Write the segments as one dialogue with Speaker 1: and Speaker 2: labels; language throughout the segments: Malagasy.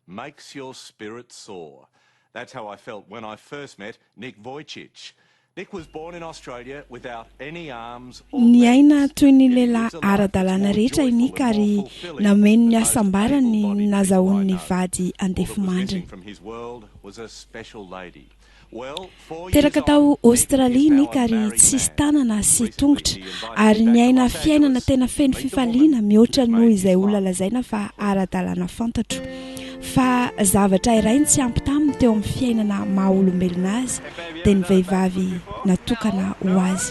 Speaker 1: makes your spirit soar. That's how I felt when I first met Nick Vujicic. Nick was born in Australia without any arms or legs. Niaina toy ny lehilahy
Speaker 2: ara-dalàna
Speaker 1: rehetra i Nick
Speaker 2: ary nameno
Speaker 1: ny hasambarany
Speaker 2: nazahoany ny
Speaker 1: vady andefimandriny. Teraka tao Aostralia
Speaker 2: i Nick
Speaker 1: ary
Speaker 2: tsisy
Speaker 1: tanana sy tongotra, ary niaina fiainana tena
Speaker 2: feno fifaliana
Speaker 1: mihoatra noho
Speaker 2: izay
Speaker 1: olona
Speaker 2: lazaina
Speaker 1: fa ara-dalàna
Speaker 2: fantatro. Fa zavatra iray no tsy ampy taminy teo amin'ny fiainana maha-olombelona azy, dia ny vehivavy natokana ho azy.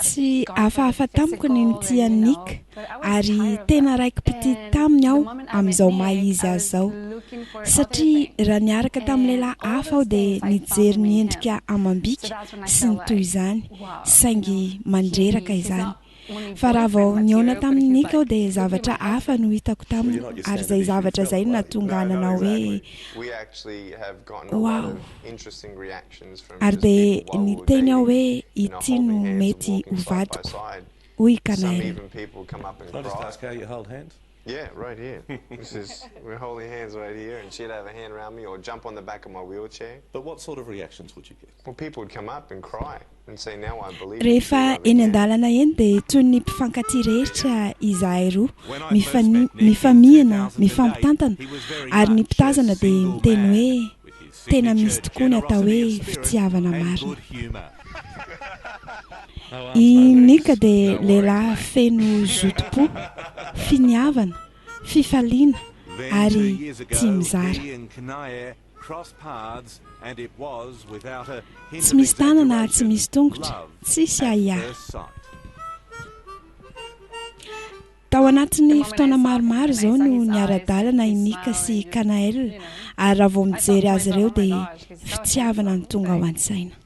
Speaker 3: Tsy hafahafa
Speaker 2: tamiko
Speaker 3: ny nitia
Speaker 2: an'i Nick,
Speaker 3: ary tena
Speaker 2: raiki-pitia taminy aho
Speaker 3: amin'izao
Speaker 2: maha
Speaker 3: izy azy
Speaker 2: izao. Satria
Speaker 3: raha niaraka
Speaker 2: tamin'ny
Speaker 3: lehilahy
Speaker 2: hafa aho dia
Speaker 3: nijery ny endrika
Speaker 2: amam-bika
Speaker 3: sy
Speaker 2: ny toy
Speaker 3: izany,
Speaker 2: saingy mandreraka
Speaker 3: izany. Fa
Speaker 2: raha
Speaker 3: vao nihaona
Speaker 2: tamin'i Nick aho
Speaker 3: dia zavatra
Speaker 2: hafa
Speaker 3: no hitako
Speaker 2: taminy, ary izay zavatra izay no nahatonga ahy nanao hoe,
Speaker 4: Wow! Ary dia
Speaker 2: niteny aho hoe,
Speaker 4: Ity
Speaker 2: no mety ho
Speaker 4: vadiko, hoy i
Speaker 1: Kanaïl.
Speaker 4: Rehefa eny an-dalana
Speaker 2: eny dia toy ny mpifankatia rehetra izahay roa, mifamihina, mifampitantana, ary ny mpitazana dia miteny hoe tena misy tokoa ny atao hoe fitiavana marina. I Nick dia lehilahy feno zotom-po, finiavana, fifaliana, ary tia mizara. Tsy misy tanana ary tsy misy tongotra, tsisy ahiahy. Tao anatin'ny fotoana maromaro izao no niara-dalana i Nick sy i Kanaël ary raha vao mijery azy ireo dia fitiavana no tonga ao an-tsaina.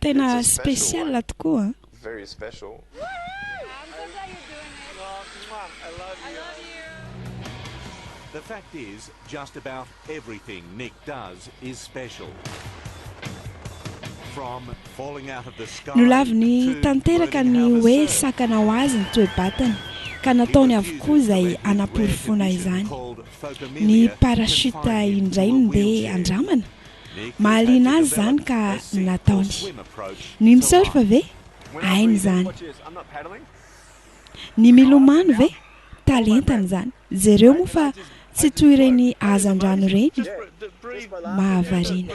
Speaker 4: Tena
Speaker 2: special
Speaker 4: tokoa
Speaker 1: an! Nolaviny
Speaker 2: tanteraka ny
Speaker 1: hoe
Speaker 2: sakana
Speaker 1: ho azy
Speaker 2: ny toe-batany ka nataony avokoa izay hanaporofoana izany. Ny parachute indray no ndeha handramana? Mahaliana azy izany ka nataony. Ny mi-surf ve? Hainy izany. Ny milomano ve? Talentany izany. Jereo moa fa tsy toy ireny hazandrano ireny mahavariana.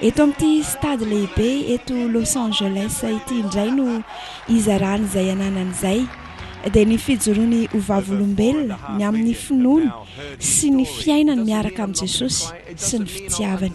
Speaker 2: Eto amin'ity stade lehibe eto Los Angeles ity indray no hizarany izay ananany izay, dia ny fijoroany ho vavolombelona ny amin'ny finoany sy ny fiainany miaraka amin'i Jesosy sy ny fitiavany.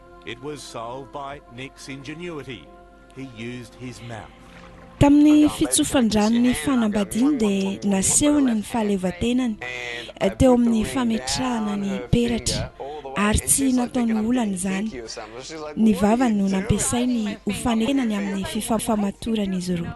Speaker 1: It was solved by Nick's ingenuity, he used his mouth. Tamin'ny
Speaker 2: fitsofan-dranon'ny fanambadiany dia nasehony ny fahaleovantenany teo amin'ny fametrahana ny peratra, ary tsy nataony olana izany. Ny vavany no nampiasainy ho fanekena ny amin'ny fifamatoran'izy
Speaker 4: roa.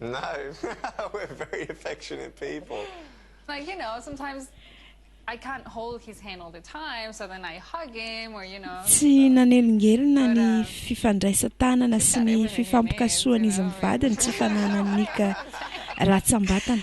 Speaker 4: No, we're very affectionate people. Like, you know,
Speaker 3: sometimes I can't hold his hand all the time, so then I hug him or you know. Tsy nanelingelina
Speaker 2: ny fifandraisan-tanana sy ny fifampikasohan'izy mivady ny tsy fananan'ny nika ratsambatana.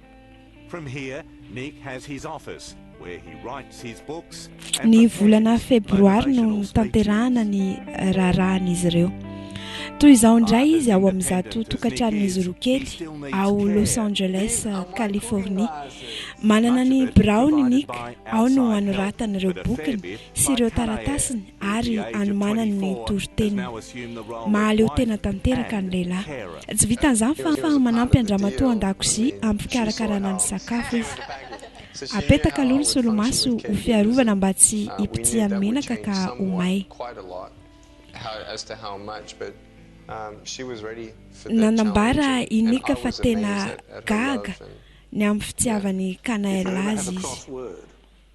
Speaker 1: Ny volana
Speaker 2: febroary no notanterahana
Speaker 1: ny raharahan'izy
Speaker 2: ireo. Toy izao indray izy ao amin'izato tokantranon'izy roa kely ao Los Angeles, Californie. Manana ny biraony Nick, ao no anoratany ireo bokiny sy ireo taratasiny ary anomanany ny toriteniny. Mahaleo tena tanteraka ny lehilahy. Tsy vitan'izany fa manampy an-dramatoa an-dakozia amim-pikarakarana ny sakafo izy. Apetaka aloha ny solomaso ho fiarovana mba tsy hipotsihan'ny menaka ka ho may.
Speaker 4: Nanambara i
Speaker 2: Nick fa
Speaker 4: tena gaga
Speaker 2: ny amin'ny
Speaker 4: fitiavan'i
Speaker 2: Kanaël azy izy.